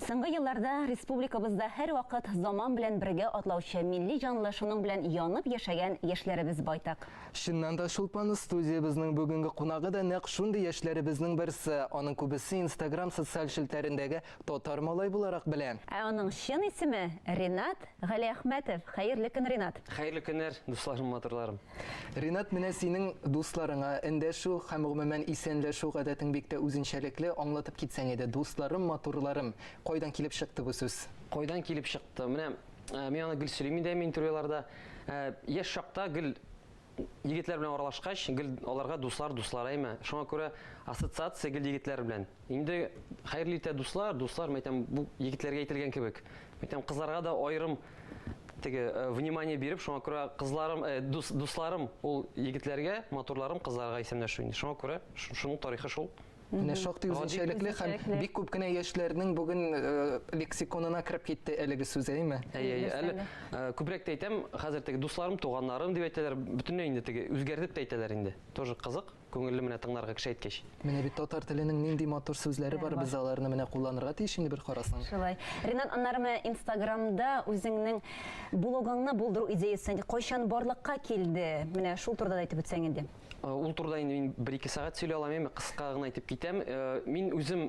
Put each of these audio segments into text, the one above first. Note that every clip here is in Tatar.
Соңгы елларда республикабызда һәрвакыт заман белән бергә атлаучы милли җанлы шуның белән янып яшәгән яшьләребез байтак. Чыннан да Чулпан студиябезнең бүгенге кунагы да нәкъ шундый яшьләребезнең берсе. Аның күбесе Инстаграм социаль челтәрендәге Татар малай буларак белә. Ә аның чын исеме, Ринат Галиәхмәтов. Хәерле көн, Ринат! Хәерле көннәр, дусларым матурларым! Ринат, менә синең дусларыңа эндәшү һәм гомумән исәнләшү гадәтең бик тә үзенчәлекле, аңлатып китсәң иде, дусларым, матурларым, кайдан килеп чыкты бу сүз? Кайдан килеп чыкты? Менә э, мин аны гел сөйлим инде әми интервьюларда. Э, яшь чакта гел егетләр белән аралашкач, гел аларга дуслар, дуслар әйме. Шуңа күрә ассоциация гел егетләр белән. Инде хәерле итә дуслар, дуслар, мәйтәм, бу егетләргә әйтелгән кебек. Мәйтәм, кызларга да аерым теге э, внимание биреп, шуңа күрә кызларым, э, дус, дусларым ул егетләргә, матурларым кызларга исемләшү инде. Шуңа күрә шуның тарихы шул. Менә шактый үзенчәлекле һәм бик күп кенә яшьләрнең бүген э, лексиконына кереп китте әлеге сүз, әйме? Әйе, әйе. Әле э, күбрәк тә әйтәм, хәзер теге дусларым, туганнарым дип әйтәләр, бөтенләй инде теге үзгәртеп тә әйтәләр инде. Тоже кызык. Күңелле менә тыңларга кеше әйткәч. Менә бит татар теленең нинди матур сүзләре бар, без аларны менә кулланырга тиеш инде бер карасаң. Шулай. Ринат, аннары менә инстаграмда үзеңнең блогыңны булдыру идеясе кайчан барлыкка килде? Менә шул турыда да әйтеп үтсәң инде. Ул турыда инде мин бер-ике сәгать сөйли алам, әмма кыска гына әйтеп китәм. Мин үзем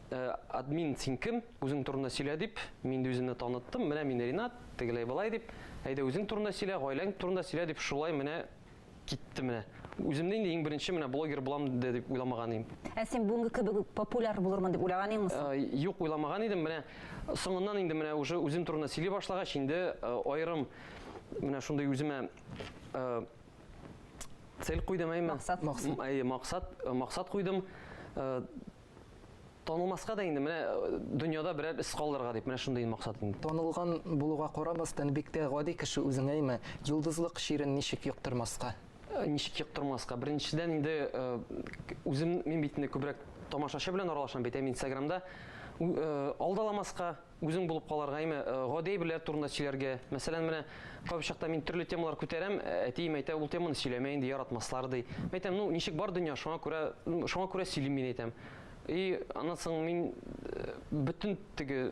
Э, админ син кем үзең турында сөйлә дип мин инде үземне таныттым менә мин ринат тегеләй былай дип әйдә үзең турында сөйлә гаиләң турында сөйлә дип шулай менә китте менә үземне инде иң беренче менә блогер булам дип уйламаган идем ә син бүгенге кебек үк популяр булырмын дип уйлаган идеңме э, юк уйламаган идем менә соңыннан инде менә уже үзем турында сөйли башлагач инде э, аерым менә шундый үземә цель куйдым әйме максат максат максат куйдым Танылмаска да инде менә э, дөньяда берәр эз калдырырга дип менә шундый максат инде. Танылган булуга карамастан бик тә гади кеше үзеңә имә. Йолдызлык чирен ничек йоктырмаска? Э, ничек йоктырмаска? Беренчедән инде э, үзем мин бит инде күбрәк тамашачы белән аралашам бит, ә мин Инстаграмда алдаламаска, Үзең булып калырга яме гади әйберләр турында сөйләргә. Мәсәлән, менә кайбер чакта мин төрле темалар күтәрәм, әтием әйтә, ул теманы сөйләмә инде, яратмаслар ди. Мин әйтәм, ну, ничек бар дөнья, шуңа күрә, шуңа күрә сөйлим мин әйтәм. И аннан соң мин бөтен теге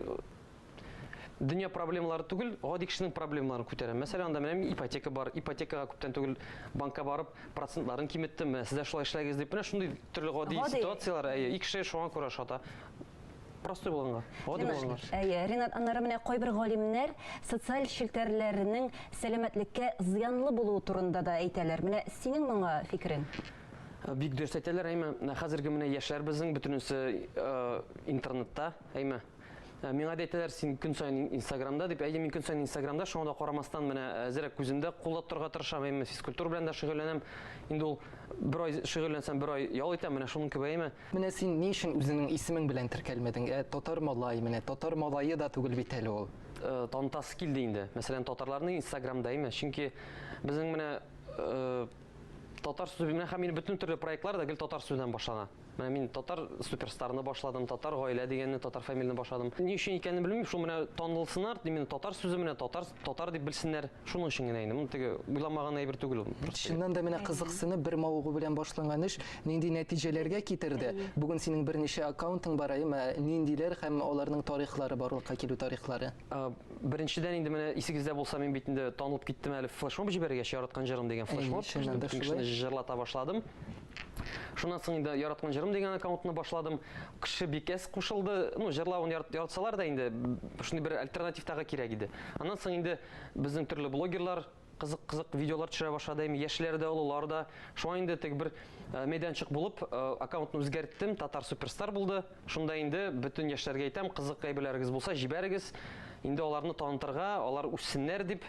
дөнья проблемалары түгел, гади кешенең проблемаларын күтәрәм. Мәсәлән, анда менә ипотека бар. Ипотекага күптән түгел банкка барып, процентларын киметтем. Менә сез дә шулай эшләгез дип, менә шундый төрле гади ситуацияләр, әйе, и кеше шуңа күрә шата. Простой булганга, гади булганга. Әйе, Ринат, аннары менә кайбер галимнәр социаль челтәрләрнең сәламәтлеккә зыянлы булуы турында да әйтәләр. Менә синең моңа фикерең? Бик дөрес әйтәләр, әйме. Хәзерге менә яшьләр безнең бөтенесе интернетта, әйме. Ә, миңа да әйтәләр син көн сайын инстаграмда дип әйе мин көн сайын инстаграмда шуңа да карамастан менә ә, әзерәк күземдә кулда торырга тырышам әйме физкультура белән дә шөгыльләнәм инде ул бер ай шөгыльләнсәм бер ай ял итәм менә шуның кебек әйме Менә син ни өчен үзеңнең исемең белән теркәлмәдең, ә? Татар малае менә, татар малае да түгел бит әле ул. Танытасы килде инде. Мәсәлән, татарларны инстаграмда име? Чөнки безнең менә татар сүзе белән һәм мин бөтен төрле проектлар да гел татар сүзеннән башлана. Менә мин татар суперстарны башладым, татар гаилә дигәнне, татар фамилияне башладым. Ни өчен икәнен белмим, шул менә танылсыннар, именно татар сүзе менә татар Татар дип белсеннәр, шуның өчен генә инде. Моны теге уйламаган әйбер түгел ул. Чыннан да менә кызыксынып бер мавыгу белән башланган эш нинди нәтиҗәләргә китерде? Бүген синең берничә аккаунтың бар, әйеме? Ниндиләр һәм аларның тарихлары, барлыкка килү тарихлары? Беренчедән инде менә исегездә булса, мин бит инде танылып киттем әле флешмоб җибәргәч, яраткан җырым дигән флешмоб, бөтен кешене җырлата башладым. Шуннан соң инде яраткан җырым дигән аккаунтны башладым. Кеше бик әз кушылды. Ну, җырлавын яратсалар да инде шундый бер альтернатив тагы кирәк иде. Аннан соң инде безнең төрле блогерлар кызык кызык видеолар төшерә башлады әйме яшьләр дә олылар да шуңа инде теге бер э, мәйданчык булып э, аккаунтны үзгәрттем татар суперстар булды Шунда инде бөтен яшьләргә әйтәм, кызык әйберләрегез булса, җибәрегез. Инде аларны танытырга, алар үссеннәр дип,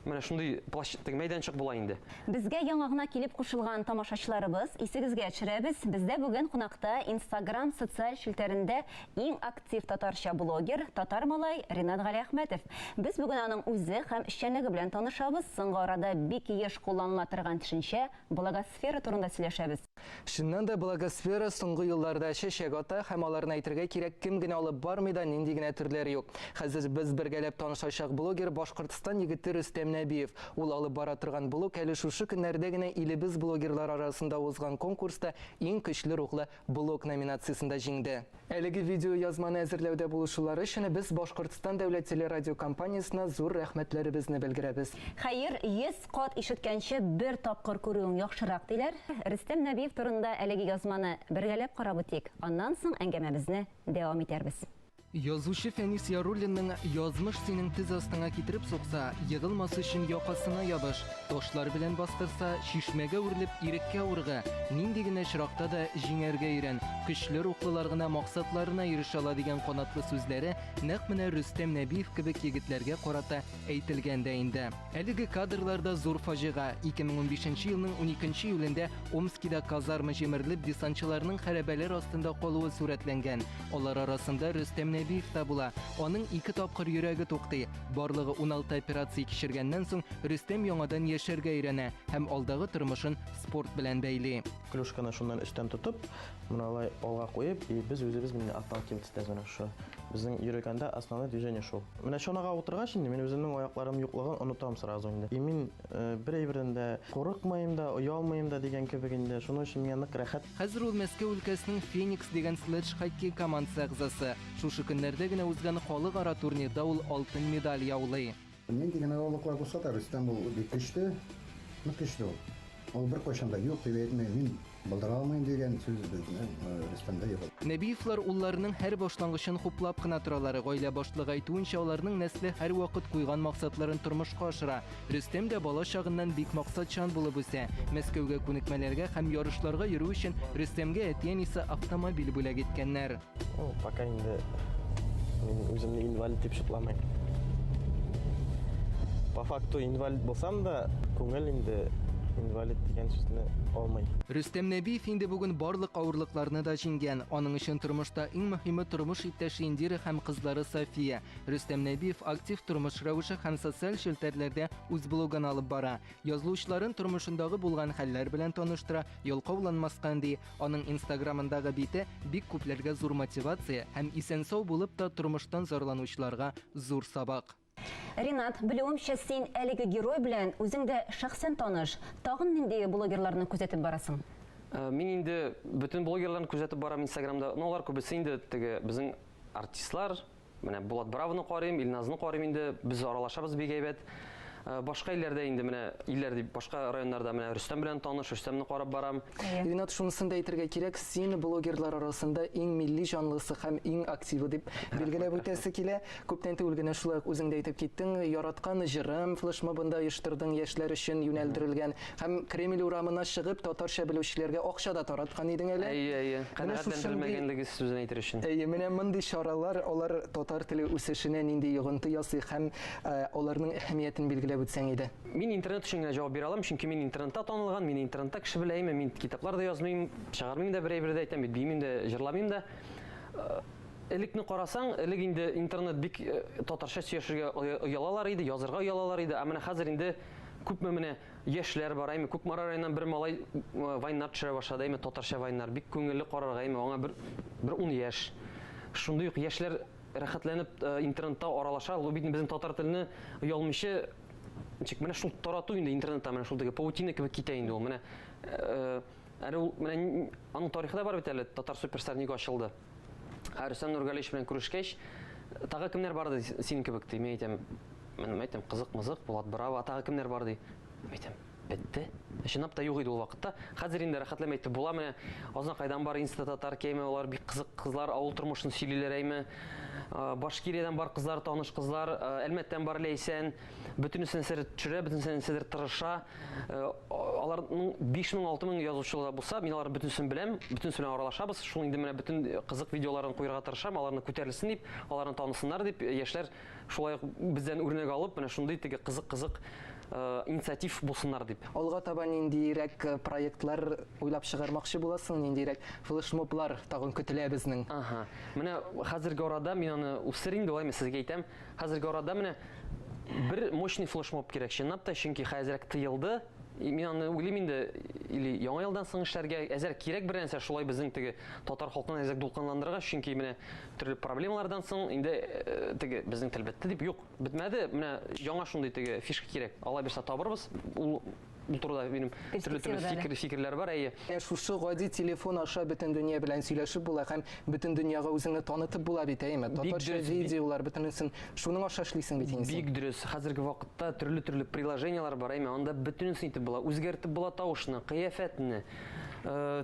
менә шундый площадь, теге мәйданчык була инде. Безгә яңа гына килеп кушылган тамашачыларыбыз, исегезгә төшерәбез, бездә бүген кунакта Инстаграм социаль челтәрендә иң актив татарча блогер, татар малай Ринат Галиәхмәтов. Без бүген аның үзе һәм эшчәнлеге белән танышабыз, соңгы арада бик еш кулланыла торган төшенчә, блогосфера турында сөйләшәбез. Чыннан да, благосфера соңгы елларда чәчәк ата, һәм аларны әйтергә кирәк, кем генә алып бармый да, нинди генә төрләр юк. Хәзер без бергәләп танышачак блогер, Башкортстан егете Рөстәм Нәбиев. Ул алып бара торган блог әле шушы көннәрдә генә илебез блогерлары арасында узган конкурста Иң көчле рухлы блог номинациясендә җиңде. Әлеге видеоязманы әзерләүдә булышулары өчен без Башкортстан дәүләт телерадиокомпаниясенә зур рәхмәтләребезне белдерәбез. Хәер, йөз кат ишеткәнче бер тапкыр күрүең яхшырак, диләр. Рөстәм Нәбиев турында әлеге язманы бергәләп карап үтик, аннан соң әңгәмәбезне дәвам итәрбез. Язучы Фәнис Яруллинның Язмыш синең тез астыңа китереп сукса, егылмас өчен якасына ябыш! Ташлар белән бастырса, чишмәгә үрелеп, иреккә урга, нинди генә очракта да җиңәргә өйрән, көчле рухлылар гына максатларына ирешә ала, дигән канатлы сүзләре нәкъ менә Рөстәм Нәбиев кебек егетләргә карата әйтелгән дә инде. Әлеге кадрлар да зур фаҗига, 2015 нче елның уникенче июлендә Омскида казарма җимерелеп, десантчыларның хәрабәләр астында калуы сурәтләнгән. Алар арасында Рөстәм Нәбиев та була. Аның ике тапкыр йөрәге туктый. Барлыгы уналты операция кичергәннән соң Рөстәм яңадан яшәргә өйрәнә һәм алдагы тормышын спорт белән бәйли. Клюшканы шуннан өстән тотып, менә алай алга куеп, и без үзебез менә отталкиваться итәбез менә шу. Безнең йөргәндә основной движение шул. Менә чанага утыргач инде мин үземнең аякларым юклыгын онытам сразу инде. И мин э, бер әйбердән дә курыкмыйм да, оялмыйм да дигән кебек инде. Шуның өчен миңа нык рәхәт. Хәзер ул Мәскәү өлкәсенең Феникс дигән следж хоккей командасы әгъзасы. Шушы көннәрдә генә узган халыкара турнирда ул алтын медаль яулый. Нинди генә авырлыклар булса да, Рөстәм ул бик көчле, нык көчле ул. Ул беркайчан да юк дип әйтми, мин булдыра алмыйм дигән сүз безнең Рөстәмдә юк. Нәбиевлар улларының һәр башлангычын хуплап кына торалар. Гаилә башлыгы әйтүенчә, аларның нәсле һәрвакыт куйган максатларын тормышка ашыра. Рөстәм дә бала чагыннан бик максатчан булып үсә. Мәскәүгә күнекмәләргә һәм ярышларга йөрү өчен Рөстәмгә әти-әнисе автомобиль бүләк иткәннәр. Ну, пока инде мин үземне инвалид дип шутламыйм. По факту инвалид булсам да, күңел инде инвалид дигән сүзне алмый. Рөстәм Нәбиев инде бүген барлык авырлыкларны да җиңгән. Аның өчен тормышта иң мөһиме тормыш иптәше Индира һәм кызлары София. Рөстәм Нәбиев актив тормыш рәвеше һәм социаль челтәрләрдә үз блогын алып бара. Язылучыларын тормышындагы булган хәлләр белән таныштыра, ялкауланмаска өнди. Аның инстаграмындагы бите бик күпләргә зур мотивация һәм исән-сау булып та тормыштан зарланучыларга зур сабак. Ринат, белүемчә, син әлеге герой белән үзең дә шәхсән таныш. Тагын нинди блогерларны күзәтеп барасың? Мин инде бөтен блогерларны күзәтеп барам инстаграмда, но алар күбесе инде теге безнең артистлар, Менә Булат Бравны карыйм, Илназны карыйм инде. Без аралашабыз бик әйбәт. Э, башка илләрдә инде менә илләр дип башка районнарда менә Рөстәм белән таныш, Рөстәмне карап барам. Ринат шунысын да әйтергә кирәк, син блогерлар арасында иң милли җанлысы һәм иң активы дип билгеләп үтәсе килә. Күптән түгел генә шулай ук үзең дә әйтеп киттең, яраткан җырым флешмобында оештырдың яшьләр өчен юнәлдерелгән Һәм Кремль урамына чыгып, татарча белүчеләргә акча да тараткан идең әле. Әйе, әйе. Канәгатьләндерелмәгәнлеге сүзен әйтер өчен. Әйе, менә мондый чаралар алар татар теле үсешенә нинди йогынты ясый һәм аларның әһәмиятен билгеләп үтсәң иде. Мин интернет өчен генә җавап бирә алам, чөнки мин интернетта танылган, мине интернетта кеше белә, әйеме? Мин китаплар да язмыйм, чыгармыйм да бер әйбер дә әйтәм бит, биимим дә, җырламыйм да. Элекне карасаң, элек инде интернет бик татарча сөйләшергә оялалар иде, язырга оялалар иде, ә менә хәзер инде Күпме менә яшьләр бар, әйме Кукмара районыннан бер малай вайннар төшерә башлады, әйме татарча вайннар. Бик күңелле карарга, әйме аңа бер бер 10 яшь. Шундый ук яшьләр рәхәтләнеп интернетта аралаша, ул бит безнең татар телене оялмыйча ничек менә шул тарату инде интернетта менә шул теге паутина кебек китә инде ул. Менә әле ул менә аның тарихы да бар бит әле, татар суперстар нигә ачылды. Ә Рөстәм Нургалич белән күрешкәч, тагы кемнәр бар ди синең кебек ди. Мин әйтәм, мин әйтәм, кызык-мызык, Булат Браво, а тагы кемнәр бар ди. Мин әйтәм, бетте. Ә чынлап та юк иде ул вакытта. Хәзер инде рәхәтләмә итеп була менә. Азна кайдан бар инста татар кеме, алар бик кызык кызлар, авыл тормышын сөйлиләр әйме. Э, Башкириядән бар кызлар, таныш кызлар, э, Әлмәттән бар Ләйсән. Бөтенесен сер төшерә, бөтенесен сидер тырыша. Э, аларның 5000-6000 язучылары да булса, мин аларны бөтенесен беләм, бөтенесе белән аралашабыз. Шул инде менә бөтен э, кызык видеоларын куярга тырышам, аларны күтәрелсен дип, аларны танысыннар дип, э, яшьләр шулай ук бездән үрнәк алып, менә шундый теге кызык-кызык инициатив булсыннар дип. Алга таба ниндирәк проектлар уйлап чыгармакчы буласың, ниндирәк флешмоблар тагын көтелә безнең? Ага. Менә хәзерге арада мин аны үстерим, дәвам сезгә әйтәм, Хәзерге арада менә бер мощный флешмоб кирәк чынлап та, чөнки хәзерәк тыелды. Мин аны уйлыйм инде, или яңа елдан соң эшләргә әзер кирәк бер нәрсә шулай безнең теге татар халкын әзер дулкынландырырга, чөнки менә төрле проблемалардан соң инде э, теге безнең тел бетте дип юк, бетмәде. Менә яңа шундый теге фишка кирәк. Алла бирса табырбыз. Ул Бу турыда минем төрле төрле фикер фикерләр бар, әйе. Ә шушы гади телефон аша бөтен дөнья белән сөйләшеп була һәм бөтен дөньяга үзеңне танытып була бит, әйеме? Татарча видеолар бөтенесен шуның аша эшлисең бит инде. Бик дөрес. Хәзерге вакытта төрле төрле приложениелар бар, әйеме? Анда бөтенесен итеп була. Үзгәртеп була тавышны, кыяфәтне, э,